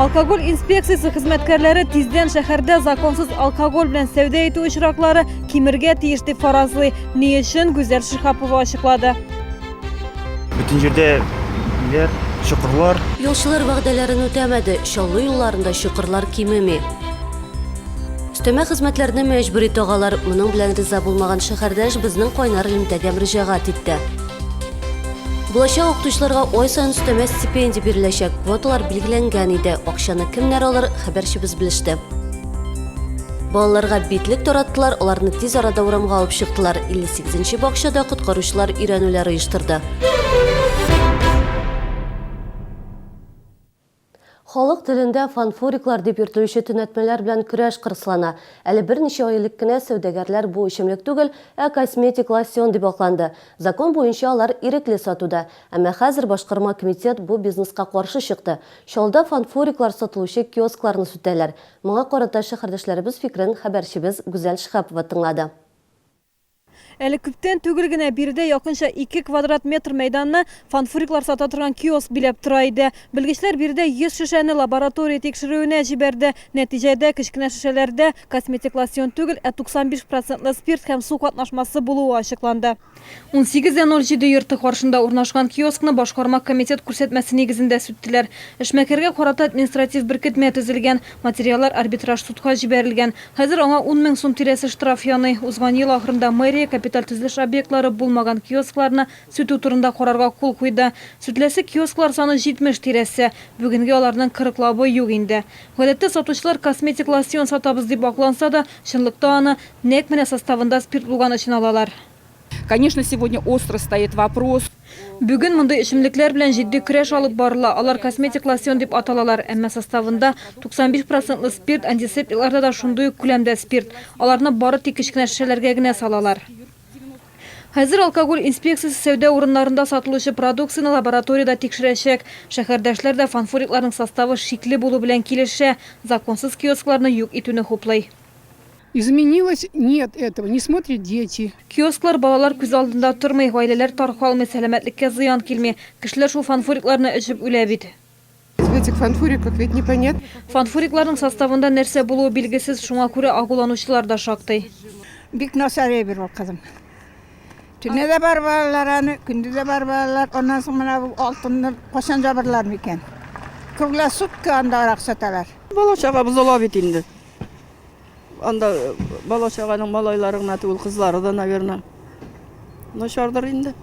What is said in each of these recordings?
Алкоголь инспекциясе хезмәткәрләре тиздән шәһәрдә законсыз алкоголь белән сәүдә итү очраклары кимергә тиеш дип фаразлый. Ни өчен Гүзәл Шиһапова ачыклады. Бөтен җирдә биләр, чокырлар. Юлчылар вәгъдәләрен үтәмәде, Чаллы юлларында чокырлар кимеми. Өстәмә хезмәтләрне мәҗбүри тагалар. Моның белән риза булмаган шәһәрдәш безнең кайнар элемтәгә мөрәҗәгать итте. Булачак укытучыларга ай саен өстәмә стипендия биреләчәк. Квоталар билгеләнгән иде. Акчаны кемнәр алыр, хәбәрчебез белеште. Балаларга битлек тараттылар, аларны тиз арада урамга алып чыктылар. 58 нче бакчада коткаручылар өйрәнүләр оештырды. Халык телендә фанфуриклар дип йөртелүче төнәтмәләр белән көрәш кырыслана. Әле берничә ай элек кенә сәүдәгәрләр бу эчемлек түгел, ә косметик лосьон дип акланды. Закон буенча алар ирекле сатуда. Әмма хәзер башкарма комитет бу бизнеска каршы чыкты. Чаллыда фанфуриклар сатылучы киоскларны сүтәләр. Моңа карата шәһәрдәшләребез фикерен хәбәрчебез Гүзәл Шиһапова тыңлады. Әле күптән түгел генә биредә якынча ике квадрат метр мәйданны фанфуриклар сата торган киоск биләп тора иде. Белгечләр биредә 100 шешәне лаборатория тикшерүенә җибәрде. Нәтиҗәдә, кечкенә шешәләрдә косметик лосьон түгел, ә 95 процентлы спирт һәм су катнашмасы булуы ачыкланды. 18:07 йорты каршында урнашкан киоскны башкарма комитет күрсәтмәсе нигезендә сүттеләр. Эшмәкәргә карата административ беркетмә төзелгән. Материаллар арбитраж судка җибәрелгән. Хәзер аңа ун мең сум тирәсе штраф яный. Узган ел ахырында мэрия капиталь төзелеш объектлары булмаган киоскларны сүтү турында карарга кул куйды. Сүтеләсе киосклар саны 70 тирәсе. Бүгенге аларның кырыклабы юк инде. Гадәттә сатучылар косметик лосьон сатабыз дип акланса да, чынлыкта аны нәкъ менә составында спирт булган өчен алалар. Конечно, сегодня остро стоит вопрос. Бүген мондый эчемлекләр белән җитди көрәш алып барыла. Алар косметик лосьон дип аталалар, әмма составында 95 процентлы спирт, антисептикларда да шундый ук күләмдә спирт. Аларны бары тик кечкенә шешәләргә генә салалар. Хәзер алкоголь инспекциясе сәүдә урыннарында сатылучы продукцияне лабораториядә тикшерәчәк. Шәһәрдәшләр дә фанфурикларның составы шикле булу белән килешә, законсыз киоскларны юк итүне хуплый. Изменилось нет этого не смотрят дети. Киосклар балалар күз алдында тормый, гаиләләр таркалмый, сәламәтлеккә зыян килми. Кешеләр шул фанфурикларны эчеп үлә бит. В этих фанфуриках ведь не понят. Фанфурикларның составында нәрсә булуы билгесез, шуңа күрә агуланучылар да шактый. Бик насар әйбер ул кызым. Төне дә бар балалар аны, көнде дә бар балалар. Аннан соң менә бу алтынны качан жабырлар микән? Круглосутки анда арак саталар. Бала чагабыз ала бит инде. Анда бала-чаганың малайлары гына түгел, кызлары да, наверное, начардыр инде.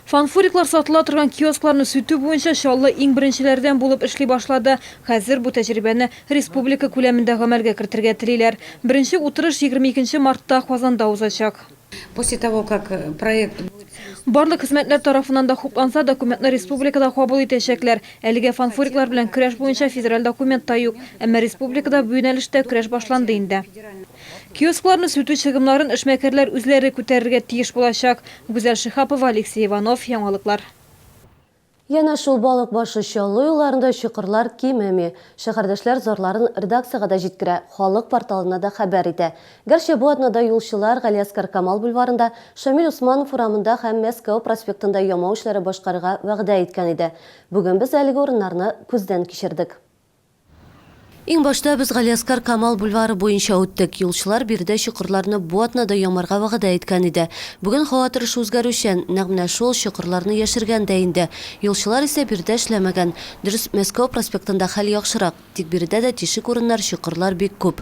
Фанфуриклар сатыла торган киоскларны сүтү буенча Чаллы иң беренчеләрдән булып эшли башлады. Хәзер бу тәҗрибәне республика күләмендә гамәлгә кертергә телиләр. Беренче утырыш 22 мартта Казанда узачак. После того как проект. Барлык хезмәтләр тарафыннан да хупланса, документны республикада кабул итәчәкләр. Әлегә фанфуриклар белән көрәш буенча федераль документ та юк. Әмма республикада бу юнәлештә көрәш башланды инде. Киоскларны сүтү чыгымнарын эшмәкәрләр үзләре күтәрергә тиеш булачак. Гүзәл Шиһапова, Алексей Иванов, яңалыклар. Янә шул Балык башы Чаллы юлларында чокырлар кимеми. Шәһәрдәшләр зарларын редакциягә дә җиткерә, халык порталына да хәбәр итә. Гәрчә бу атнада юлчылар Галиәскар Камал бульварында, Шамил Усманов урамында һәм Мәскәү проспектында ямау эшләре башкарырга вәгъдә иткән иде. Бүген без әлеге урыннарны күздән кичердек. Иң башта без Галиәскар Камал бульвары буенча үттек. Юлчылар биредә чокырларны бу атнада ямарга вәгъдә иткән иде. Бүген һава торышы үзгәрүчән, нәкъ менә шул, чокырларны яшергән дә инде. Юлчылар исә биредә эшләмәгән. Дөрес, Мәскәү проспектында хәл яхшырак, тик биредә дә тишек урыннар, чокырлар бик күп.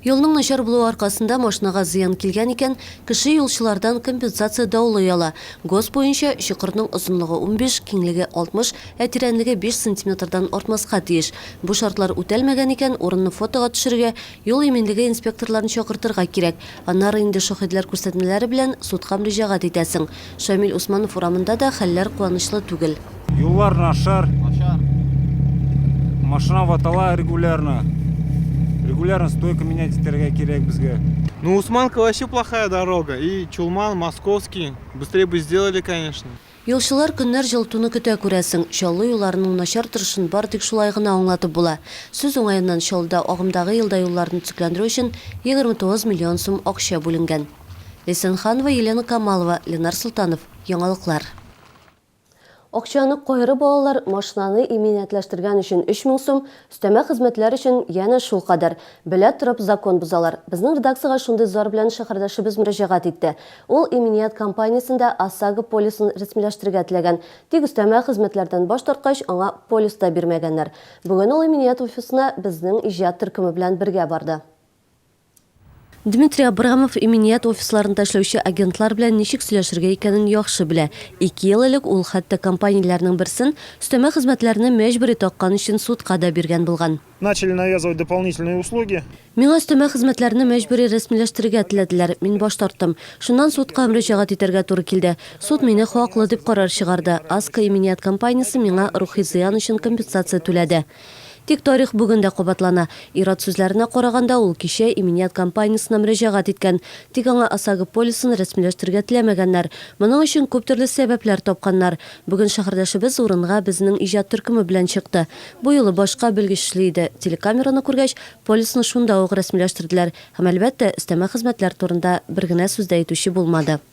Юлның начар булуы аркасында машинага зыян килгән икән, кеше юлчылардан компенсация даулый ала. ГОСТ буенча, чокырның озынлыгы унбиш, киңлеге алтмыш, ә тирәнлеге биш сантиметрдан артмаска тиеш. Бу шартлар үтәлмәгән икән, урынны фотога төшерергә, юл иминлеге инспекторларын чакыртырга кирәк. Аннары инде шаһитләр күрсәтмәләре белән судка мөрәҗәгать итәсең. Шамил Усманов урамында да хәлләр куанычлы түгел. Юллар начар. Машина ватала регулярно. Регулярно стойка менять итәргә кирәк безгә. Ну, Усманка вообще плохая дорога. И Чулман, Московский. Быстрее бы сделали, конечно. Юлчылар көннәр җылытуны көтә, күрәсең. Чаллы юлларының начар торышын бары тик шулай гына аңлатып була. Сүз уңаеннан, Чаллыда агымдагы елда юлларны төзекләндерү өчен 29 миллион сум акча бүленгән. Ләйсән Ханова, Елена Камалова, Ленар Солтанов, Яңалыклар. Акчаны кайры балалар машинаны иминиятләштергән өчен 3 мең сум, өстәмә хезмәтләр өчен янә шул кадәр, белә торып закон бозалар. Безнең редакциягә шундый зар белән шәһәрдәшебез мөрәҗәгать итте. Ул иминият кампаниясендә ОСАГО полисын рәсмиләштерергә теләгән, тик өстәмә хезмәтләрдән баш тарткач, аңа полис та бирмәгәннәр. Бүген ул иминият офисына безнең иҗат төркеме белән бергә барды. Дмитрий Абрамов иминият офисларында эшләүче агентлар белән ничек сөйләшергә икәнен яхшы белә. Ике ел элек ул хәтта компанияләрнең берсен өстәмә хезмәтләрне мәҗбүри таккан өчен судка да биргән булган. Начали навязывать дополнительные услуги. Миңа өстәмә хезмәтләрне мәҗбүри рәсмиләштерергә теләделәр, мин баш тарттым. Шуннан судка мөрәҗәгать итәргә туры килде. Суд мине хаклы дип карар чыгарды. Аска иминият компаниясе миңа рухи зыян өчен компенсация түләде. Тик тарих бүген дә кабатлана. Ир-ат сүзләренә караганда, ул кичә иминият компаниясенә мөрәҗәгать иткән. Тик аңа ОСАГО полисын рәсмиләштерергә теләмәгәннәр. Моның өчен күп төрле сәбәпләр тапканнар. Бүген шәһәрдәшебез урынга безнең иҗат төркеме белән чыкты. Бу юлы башка белгеч эшли иде. Телекамераны күргәч, полисны шунда ук рәсмиләштерделәр. Һәм, әлбәттә, өстәмә хезмәтләр турында бер генә сүз дә әйтүче булмады.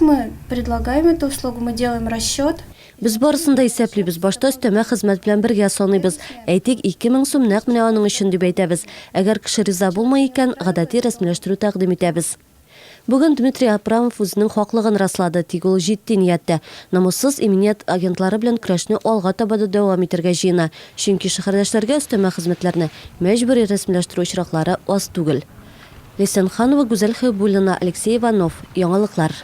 Мы предлагаем эту услугу, мы делаем расчет. Без барысын да исәплибез, башта өстәмә хезмәт белән бергә саныйбыз. Әйтик, 2000 сум нәкъ менә аның өчен дип әйтәбез. Әгәр кеше риза булмый икән, гадәти рәсмиләштерү тәкъдим итәбез. Бүген Дмитрий Апрамов үзенең хаклыгын раслады, тик ул җитди нияттә. Намуссыз иминият агентлары белән көрәшне алга таба да дәвам итәргә җыена, чөнки шәһәрдәшләргә өстәмә хезмәтләрне мәҗбүри рәсмиләштерү очраклары аз түгел. Ләйсән Ханова, Гүзәл Хәйбуллина, Алексей Иванов, Яңалыклар.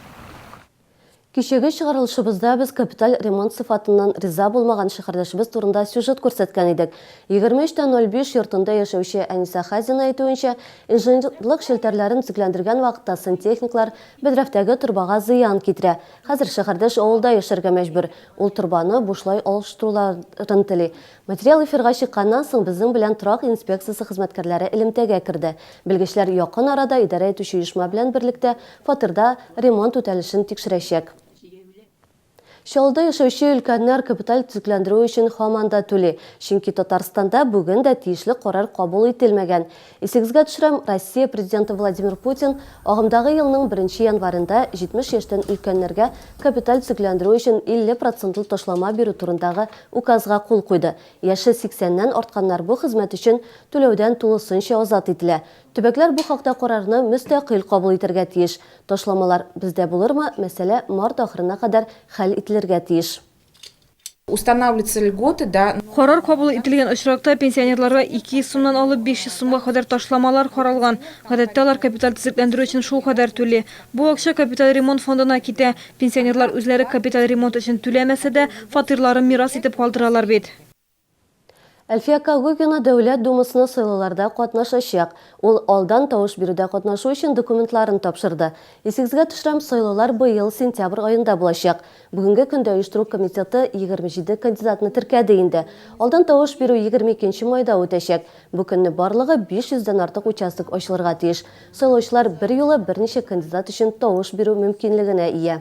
Кичәге чыгарылышыбызда без капиталь ремонт сыйфатыннан риза булмаган шәһәрдәшебез турында сюжет күрсәткән идек. 23 тә 05 йортында яшәүче Әнисә Хәзина әйтүенчә, инженерлык челтәрләрен төзекләндергән вакытта сантехниклар бәдрәфтәге торбага зыян китерә. Хәзер шәһәрдәш авылда яшәргә мәҗбүр. Ул торбаны бушлай алыштыруларын тели. Материал эфирга чыкканнан соң безнең белән торак инспекциясе хезмәткәрләре элемтәгә керде. Белгечләр якын арада идарә итүче оешма белән берлектә фатирда ремонт үтәлешен тикшерәчәк. Чаллыда яшәүче өлкәннәр капиталь төзекләндерү өчен һаман да түли, чөнки Татарстанда бүген дә тиешле карар кабул ителмәгән. Исегезгә төшерәм, Россия Президенты Владимир Путин агымдагы елның беренче январендә 70 яшьтән өлкәннәргә капиталь төзекләндерү өчен 50 процентлы ташлама бирү турындагы Указга кул куйды. Яше 80 ннән артканнар бу хезмәт өчен түләүдән тулысынча азат ителә. Төбәкләр бу хакта карарны мөстәкыйль кабул итәргә тиеш. Ташламалар бездә булырмы, мәсьәлә март ахырына кадәр хәл ителергә тиеш. Устанавливаются льготы, да. Карар кабул ителгән очракта, пенсионерларга 200 сумнан алып 500 сумга кадәр ташламалар каралган. Гадәттә, алар капиталь төзекләндерү өчен шулкадәр түли. Бу акча капиталь ремонт фондына китә. Пенсионерлар үзләре капиталь ремонт өчен түләмәсә дә, фатирларын мирас итеп калдыралар бит. Әлфия Кагугина Дәүләт Думасына сайлауларда катнашачак. Ул алдан тавыш бирүдә катнашу өчен документларын тапшырды. Исегезгә төшерәм, сайлаулар быел сентябрь аенда булачак. Бүгенге көндә оештыру комитеты 27 кандидатны теркәде инде. Алдан тавыш бирү 22 майда үтәчәк. Бу көнне барлыгы 500 дән артык участок ачылырга тиеш. Сайлаучылар берьюлы берничә кандидат өчен тавыш бирү мөмкинлегенә ия.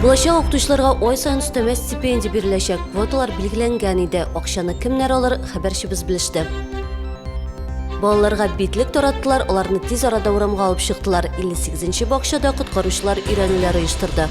Булачак укытучыларга ай сайын өстәмә стипендия биреләчәк. Квоталар билгеләнгән иде. Акчаны кемнәр алыр, хәбәрчебез белеште. Балаларга битлек тараттылар, аларны тиз арада урамга алып чыктылар. 58 нче бакчада коткаручылар өйрәнүләр оештырды.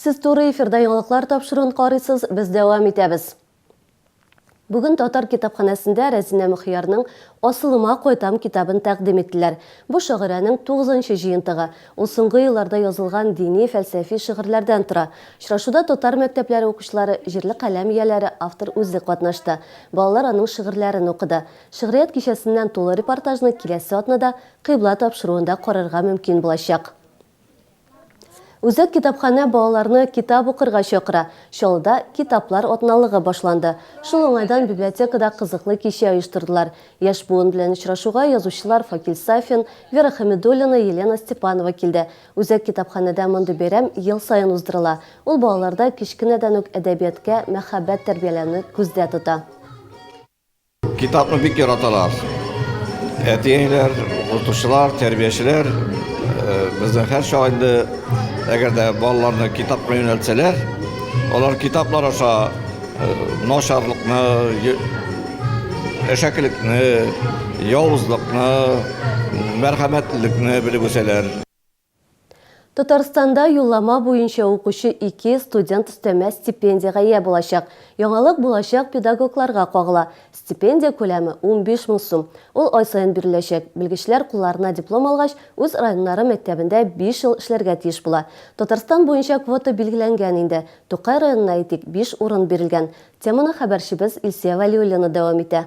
Сез туры эфирда яңалыклар тапшыруын карыйсыз, без дәвам итәбез. Бүген татар китапханәсендә Рәзинә Мөхиярның Асылыма кайтам китабын тәкъдим иттеләр. Бу шагыйрәнең тугызынчы җыентыгы. Ул соңгы елларда язылган дини, фәлсәфи шигырьләрдән тора. Очрашуда татар мәктәпләре укучылары, җирле каләм ияләре, автор үзе катнашты. Балалар аның шигырьләрен укыды. Шигърият кичәсеннән тулы репортажны киләсе атнада Кыйбла тапшыруында карарга мөмкин булачак. Үзәк китапханә балаларны китап укырга чакыра. Чаллыда Китаплар атналыгы башланды. Шул уңайдан библиотекада кызыклы кичә оештырдылар. Яшь буын белән очрашуга язучылар Факил Сафин, Вера Хәмидуллина, Елена Степанова килде. Үзәк китапханәдә мондый бәйрәм ел саен уздырыла. Ул балаларда кечкенәдән үк әдәбияткә мәхәббәт тәрбияләүне күздә тота. Китапны бик яраталар. Әти-әниләр, укытучылар, тәрбиячеләр э, бездә һәр чак инде әгәр дә балаларны китапка юнәлтсәләр, алар китаплар аша э, начарлыкны, әшәкелекне, явызлыкны, мәрхәмәтлелекне белеп үсәләр. Татарстанда юллама буенча укучы ике студент өстәмә стипендиягә ия булачак. Яңалык булачак педагогларга кагыла. Стипендия күләме, унбиш мең сум. Ул ай саен биреләчәк. Белгечләр кулларына диплом алгач, үз районнары мәктәбендә биш ел эшләргә тиеш була. Татарстан буенча квота билгеләнгән инде. Тукай районына, әйтик, биш урын бирелгән. Теманы хәбәрчебез Илсөя Вәлиуллина дәвам итә.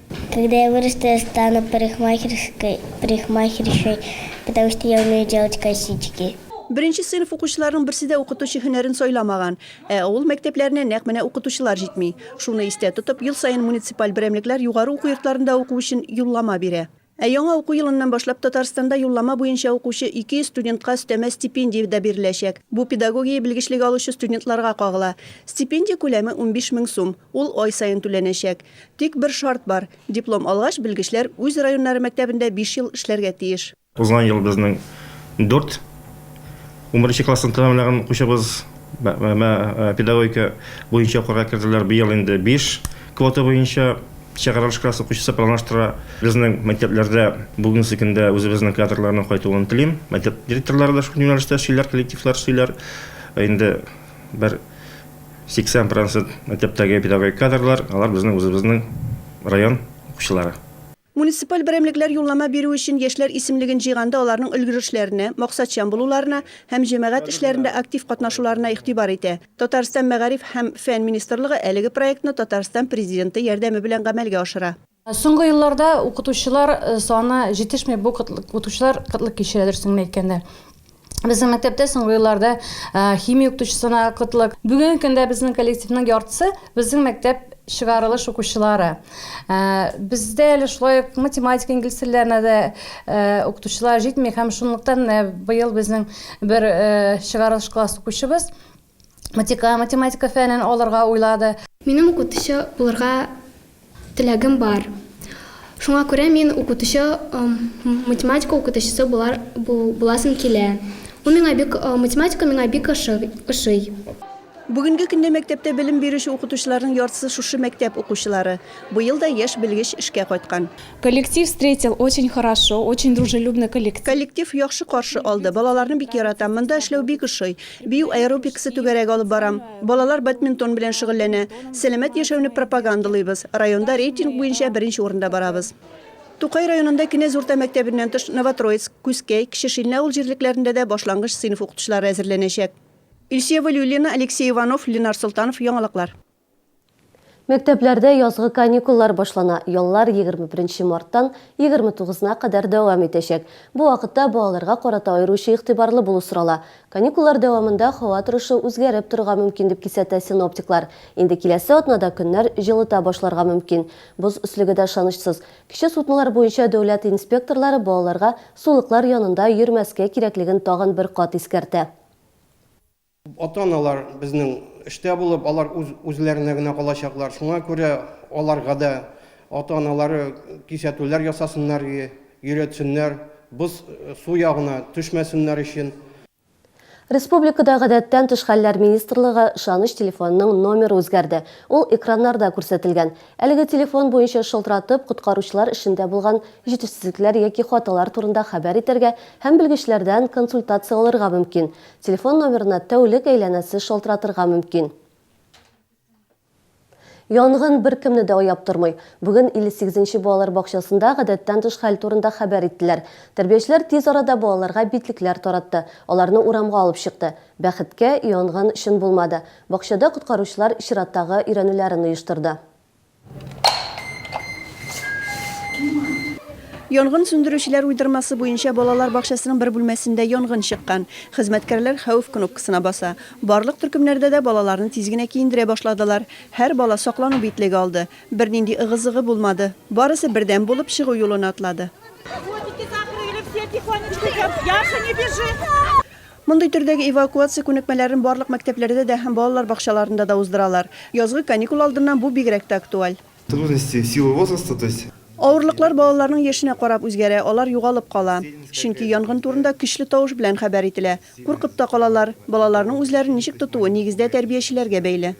Когда я вырасту, я стану парикмахерской, парикмахершей, потому что я умею делать косички. Беренче сыйныф укучыларының берсе дә укытучы һөнәрен сайламаган. Ә авыл мәктәпләренә нәкъ менә укытучылар җитми. Шуны истә тотып, ел саен муниципаль берәмлекләр югары уку йортларында уку өчен юллама бирә. Ә яңа уку елыннан башлап Татарстанда юллама буенча укучы 200 студентка өстәмә стипендия дә биреләчәк. Бу педагогия белгечлеге алучы студентларга кагыла. Стипендия күләме, унбиш мең сум. Ул ай саен түләнәчәк. Тик бер шарт бар, диплом алгач, белгечләр үз районнары мәктәбендә биш ел эшләргә тиеш. Узган ел безнең дүрт унберенче классны тәмамлаган укучыбыз педагогика буенча укырга керделәр, быел инде биш квота буенча чыгарылыш класс укучысы планлаштыра. Безнең мәктәпләрдә бүгенге көндә үзебезнең кадрларның кайтуын телим. Мәктәп директорлары да шул юнәлештә эшлиләр, коллективлар эшлиләр. Инде бер 80 процент мәктәптәге педагогик кадрлар, алар безнең үзебезнең район укучылары. Муниципаль берәмлекләр юллама бирү өчен яшьләр исемлеген җыйганда аларның өлгерешләренә, максатчан булуларына һәм җәмәгать эшләрендә актив катнашуларына игътибар итә. Татарстан Мәгариф һәм фән министрлыгы әлеге проектны Татарстан Президенты ярдәме белән гамәлгә ашыра. Соңгы елларда укытучылар саны җитешми, бу укытучылар кытлык кичерә, дөресен генә әйткәндә. Безнең мәктәптә соңгы елларда химия укытучысына кытлык. Бүгенге көндә безнең коллективның яртысы, безнең мәктәп чыгарылыш укучылары. Бездә әле шулай ук математика, инглиз телләренә дә укытучылар җитми һәм шунлыктан менә быел безнең бер чыгарылыш класс укучыбыз, матика, математика фәнен алырга уйлады. Минем укытучы булырга теләгем бар. Шуңа күрә мин укытучы, математика укытучысы булар, бу, буласым килә. Ул миңа бик, математика миңа бик ошы, ошый. Бүгенге көндә мәктәптә белем бирүче укытучыларның яртысы шушы мәктәп укучылары. Быел да яшь белгеч эшкә кайткан. Коллектив встретил очень хорошо, очень дружелюбный коллектив. Коллектив яхшы каршы алды. Балаларны бик яратам. Монда эшләү бик ошый. Бию аэробикасы түгәрәге алып барам. Балалар бадминтон белән шөгыльләнә. Сәламәт яшәүне пропагандалыйбыз. Районда рейтинг буенча беренче урында барабыз. Тукай районында Кенәз урта мәктәбеннән тыш Новотроицк, Күзкәй, Кече Шилнә авыл җирлекләрендә дә башлангыч сыйныф укытучылары әзерләнәчәк. Илсөя Вәлиуллина, Алексей Иванов, Ленар Солтанов, Яңалыклар. Мәктәпләрдә язгы каникуллар башлана. Яллар 21 марттан 29 на кадәр дәвам итәчәк. Бу вакытта балаларга карата аеруча игътибарлы булу сорала. Каникуллар дәвамында һава торышы үзгәреп торырга мөмкин, дип кисәтә синоптиклар. Инде киләсе атнада көннәр җылыта башларга мөмкин. Боз өслеге дә ышанычсыз. Кече суднолар буенча дәүләт инспекторлары балаларга сулыклар янында йөрмәскә кирәклеген тагын бер кат искәртә. Ата-аналар безнең эштә булып, алар үз үзләренә генә калачаклар. Шуңа күрә аларга да ата-аналары кисәтүләр ясасыннар и йөретсеннәр, боз су ягына төшмәсеннәр өчен. Республикада Гадәттән тыш хәлләр министрлыгы ышаныч телефонының номеры үзгәрде. Ул экраннарда күрсәтелгән. Әлеге телефон буенча шылтыратып, коткаручылар эшендә булган җитешсезлекләр яки хаталар турында хәбәр итәргә һәм белгечләрдән консультация алырга мөмкин. Телефон номерына тәүлек әйләнәсе шалтыратырга мөмкин. Янгын беркемне дә аяп тормый. Бүген 58 нче балалар бакчасында гадәттән тыш хәл турында хәбәр иттеләр. Тәрбиячеләр тиз арада балаларга битлекләр таратты, аларны урамга алып чыкты. Бәхеткә, янгын чын булмады. Бакчада коткаручылар чираттагы өйрәнүләрен оештырды. Янгын сүндерүчеләр уйдырмасы буенча балалар бакчасының бер бүлмәсендә янгын чыккан. Хезмәткәрләр хәвеф кнопкасына баса. Барлык төркемнәрдә дә балаларны тиз генә киендерә башладылар. Һәр бала саклану битлеге алды. Бернинди ыгы-зыгы булмады. Барысы бердәм булып чыгу юлына атлады. Мондый төрдәге эвакуация күнекмәләрен барлык мәктәпләрдә дә һәм балалар бакчаларында да уздыралар. Язгы каникул алдыннан бу бигрәк тә актуаль. Трудности в силу возраста, то есть. Авырлыклар балаларның яшенә карап үзгәрә, алар югалып кала. Чөнки янгын турында көчле тавыш белән хәбәр ителә. Куркып та калалар. Балаларның үзләрен ничек тотуы, нигездә, тәрбиячеләргә бәйле.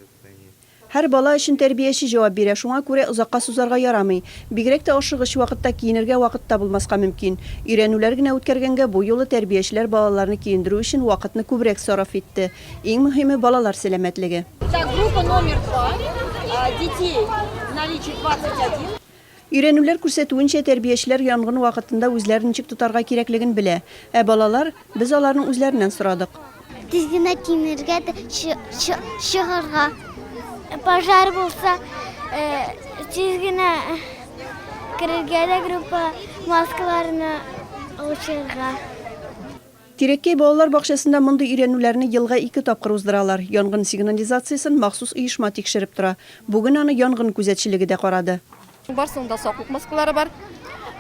Һәр бала өчен тәрбияче җавап бирә, шуңа күрә озакка сузарга ярамый. Бигрәк тә ашыгыч вакытта киенергә вакыт та булмаска мөмкин. Өйрәнүләр генә үткәргәнгә бу юлы тәрбиячеләр балаларны киендерү өчен вакытны күбрәк сараф итте. Иң мөһиме, балалар сәламәтлеге. Так, группа номер два, детей в наличии двадцать один. Өйрәнүләр күрсәтүенчә, тәрбиячеләр янгын вакытында үзләрен ничек тотарга кирәклеген белә. Ә балалар? Без аларның үзләреннән сорадык. Тиз генә кимергә дә, чыгарга. Пожар булса, тиз генә керергә дә, группа маскаларны алып чыгарга. Тирәккәй балалар бакчасында мондый өйрәнүләрне елга ике тапкыр уздыралар. Янгын сигнализациясен махсус оешма тикшереп тора. Бүген аны янгын күзәтчелеге дә карады. Барысының да саклык маскалары бар.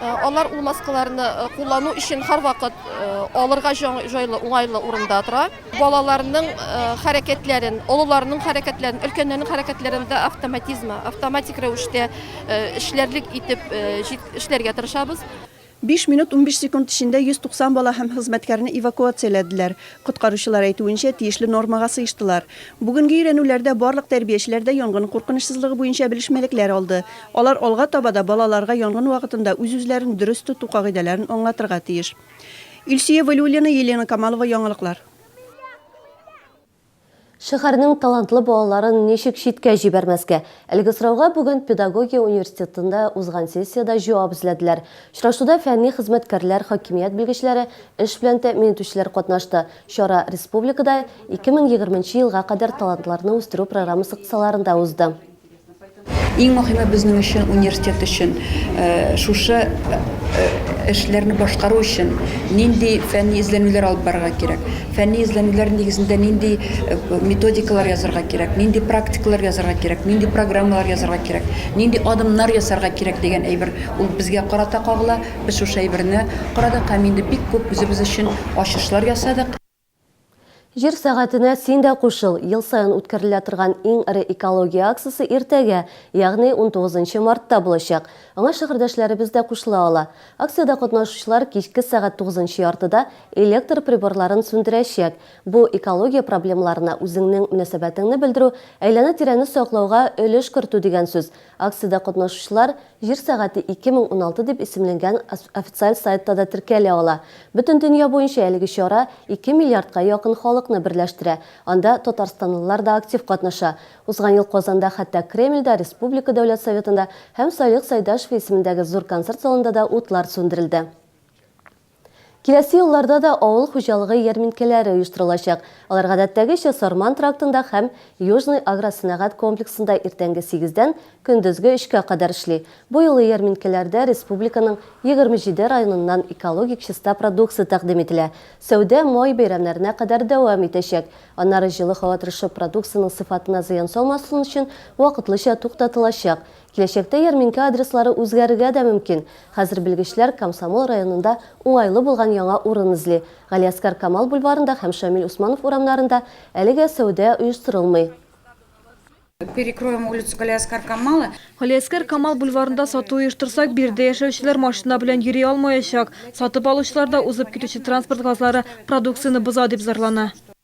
Алар ул маскаларны куллану өчен һәрвакыт алырга җайлы, уңайлы урында тора. Балаларның хәрәкәтләрен, олыларның хәрәкәтләрен, өлкәннәрнең хәрәкәтләрен дә автоматизмы, автоматик рәвештә эшләрлек итеп эшләргә тырышабыз. Биш минут унбиш секунд эчендә 190 бала һәм хезмәткәрне эвакуацияләделәр. Коткаручылар әйтүенчә, тиешле нормага сыештылар. Бүгенге өйрәнүләрдә барлык тәрбиячеләр дә янгын куркынычсызлыгы буенча белешмәлекләр алды. Алар алга таба да балаларга янгын вакытында үз-үзләрен дөрес тоту кагыйдәләрен аңлатырга тиеш. Илсөя Вәлиуллина, Елена Камалова, Яңалыклар. Шәһәрнең талантлы балаларын ничек читкә җибәрмәскә? Әлеге сорауга бүген Педагогия университетында узган сессиядә җавап эзләделәр. Очрашуда фәнни хезмәткәрләр, хакимият белгечләре, эш белән тәэмин итүчеләр катнашты. Чара республикада 2020 елга кадәр талантларны үстерү программасы кысаларында узды. Иң мөһиме безнең өчен, университет өчен, шушы эшләрне башкару өчен нинди фәнни эзләнүләр алып барырга кирәк? Фәнни эзләнүләр нигезендә нинди методикалар язарга кирәк? Нинди практикалар язарга кирәк? Нинди программалар язарга кирәк? Нинди адымнар ясарга кирәк дигән әйбер ул безгә карата кагыла. Без шушы әйберне карадык һәм инде бик күп үзебез өчен ачышлар ясадык. Җир сәгатенә син дә кушыл! Ел саен үткәрелә торган иң эре экология акциясе иртәгә, ягъни унтугызынчы мартта булачак. Аңа шәһәрдәшләребез дә кушыла ала. Акциядә катнашучылар кичке сәгать тугызынчы яртыда электр приборларын сүндерәчәк. Бу, экология проблемаларына үзеңнең мөнәсәбәтеңне белдерү, әйләнә-тирәне саклауга өлеш кертү дигән сүз. Акциядә катнашучылар Җир сәгате 2016 дип исемленгән официаль сайтта да теркәлә ала. Бөтен дөнья буенча әлеге чара ике миллиардка якын халыкны берләштерә, анда татарстанлылар да актив катнаша. Узган ел Казанда, хәтта Кремльдә, республика Дәүләт Советында һәм Салих Сәйдәшев исемендәге зур концерт залында да утлар сүндерелде. Киләсе елларда да авыл хуҗалыгы ярминкәләре оештырылачак. Алар гадәттәгечә Сарман трактында һәм Южный агросәнәгать комплексында иртәнге сигездән көндезге өчкә кадәр эшли. Бу юлы ярминкәләрдә республиканың егерме җиде районыннан экологик чиста продукция тәкъдим ителә. Сәүдә май бәйрәмнәренә кадәр дәвам итәчәк. Аннары җылы һава торышы продукциянең сыйфатына зыян салмасын өчен вакытлыча туктатылачак. Киләчәктә ярминкә адреслары үзгәрергә дә мөмкин. Хәзер белгечләр Комсомол районында уңайлы булган яңа урын эзли. Галиәскар Камал бульварында һәм Шамил Усманов урамнарында әлегә сәүдә оештырылмый. Перекроем улицу Галиәскар Камала. Галиәскар Камал бульварында сату оештырсак, биредә яшәүчеләр машина белән йөри алмаячак. Сатып алучылар да узып китүче транспорт газлары продукцияне боза, дип зарлана.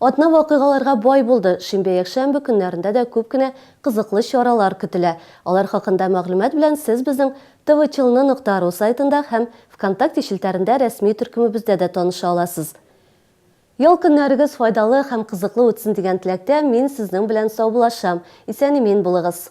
Атна вакыйгаларга бай булды, шимбә-якшәмбе көннәрендә дә күп кенә кызыклы чаралар көтелә. Алар хакында мәгълүмат белән сез безнең tvchln нокта ру сайтында һәм Вконтакте челтәрендә рәсми төркемебездә дә таныша аласыз. Ял көннәрегез файдалы һәм кызыклы үтсен дигән теләктә мин сезнең белән саубуллашам. Исән-имин булыгыз!